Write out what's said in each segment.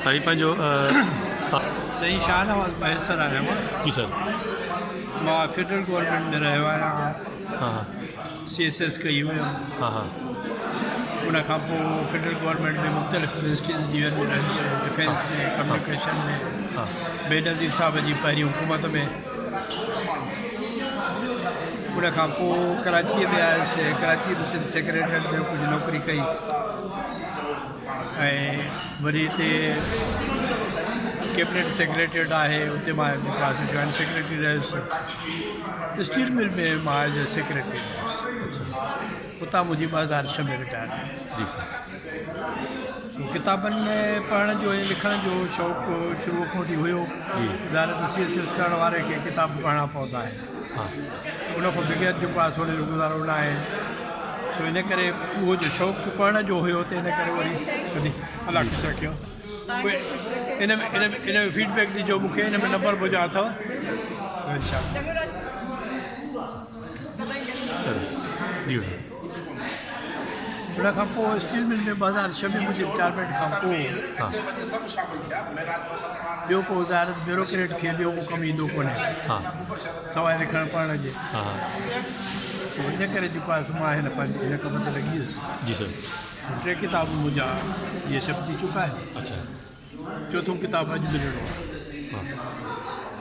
سائين پنهنجو سائين شاهنواز مهيسر آهيان مان جي سر مان فيڊرل گورنمينٽ ۾ رهيو آهيان ها ها سي ايس ايس ڪئي هيم ها ها ان کان پوء فيڊرل گورنمينٽ ۾ مختلف منسٽريز جي ويندو رهيس ڊفينس ۾ ڪميونيڪيشن ۾ ها بينظير صاحب جي پهرين حڪومت ۾ ان کان پوء ڪراچيء ۾ آيس. ڪراچيء ۾ سنڌ سيڪريٽريٽ ۾ ڪجهه نوڪري ڪئي ۽ وري هتي ڪيبنيٽ سيڪريٽريٽ آهي اتي مان جوائنٽ سيڪريٽري رهيس. اسٽيل مل ۾ مان ايز اي سيڪريٽري رهيس. اتان منهنجي ٻه هزار ڇهه ۾ رٽائرمينٽ ٿي. ڪتابن ۾ پڙهڻ جو ۽ لکڻ جو شوق شروع کان وٺي هيو. ظاهر آهي ته سي ايس سي ايس ڪرڻ واري کي ڪتاب پڙهڻا پوندا آهن. ان کان بغير جيڪو آهي سوڙهي جو گذارو نه آهي. سو ان ڪري اهو جو شوق پڙهڻ جو هيو ته ان ڪري وري ڪڏهن الله خوش رکيو. ان ۾ ان ۾ ان ۾ فيڊ بيڪ ڏجو مون کي ان ۾ نمبر منهنجا اٿو. انشاء الله. ان کان پوء اسٽيل مل ۾ ٻه هزار ڇهه ۾ منهنجي رٽائرمينٽ کان پوء ٻيو ڪو وزارت بيوروڪريٽ کي ٻيو ڪو ڪم ايندو ڪونهي سواء لکڻ پڙهڻ جي سو ان ڪري جيڪو آهي سو مان هن پنهنجي هن ڪم تي لڳي ويس جي سر ٽي ڪتاب منهنجا اهي شپ ٿي چڪا آهن اچا چوٿون ڪتاب اڄ ملڻو آهي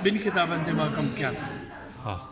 ٻن ڪتابن تي مان ڪم ڪيان ٿو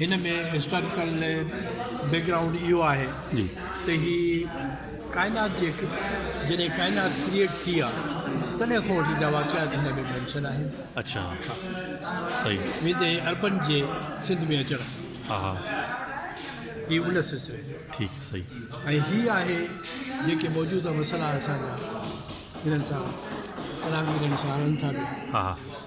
هن ۾ هسٽاريڪل بيڪ گرائونڊ اهو آهي ته هي ڪائنات جي جڏهن ڪائنات ڪريئيٽ ٿي آ تڏهن کان وٺي جا واقعات هن ۾ مينشن آهن اڇا صحيح ويندي عربن جي سنڌ ۾ اچڻ ها ها هي ان سلسلي جو ٺيڪ صحيح ۽ هي آهي جيڪي موجوده مسئلا اسان جا هنن سان پراڻي ڏينهن سان هلن ٿا پيا ها ها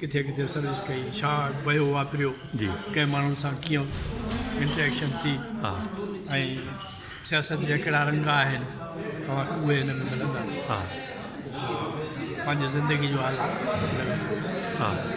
ڪٿي ڪٿي سروس ڪئي، ڇا پيو واپريو، ڪنهن ماڻهن سان ڪيئن انٽريڪشن ٿي ۽ سياست جا ڪهڙا رنگ آهن اوهان کي اهي هن ۾ ملندا. پنهنجي زندگي جو حال اهو ئي.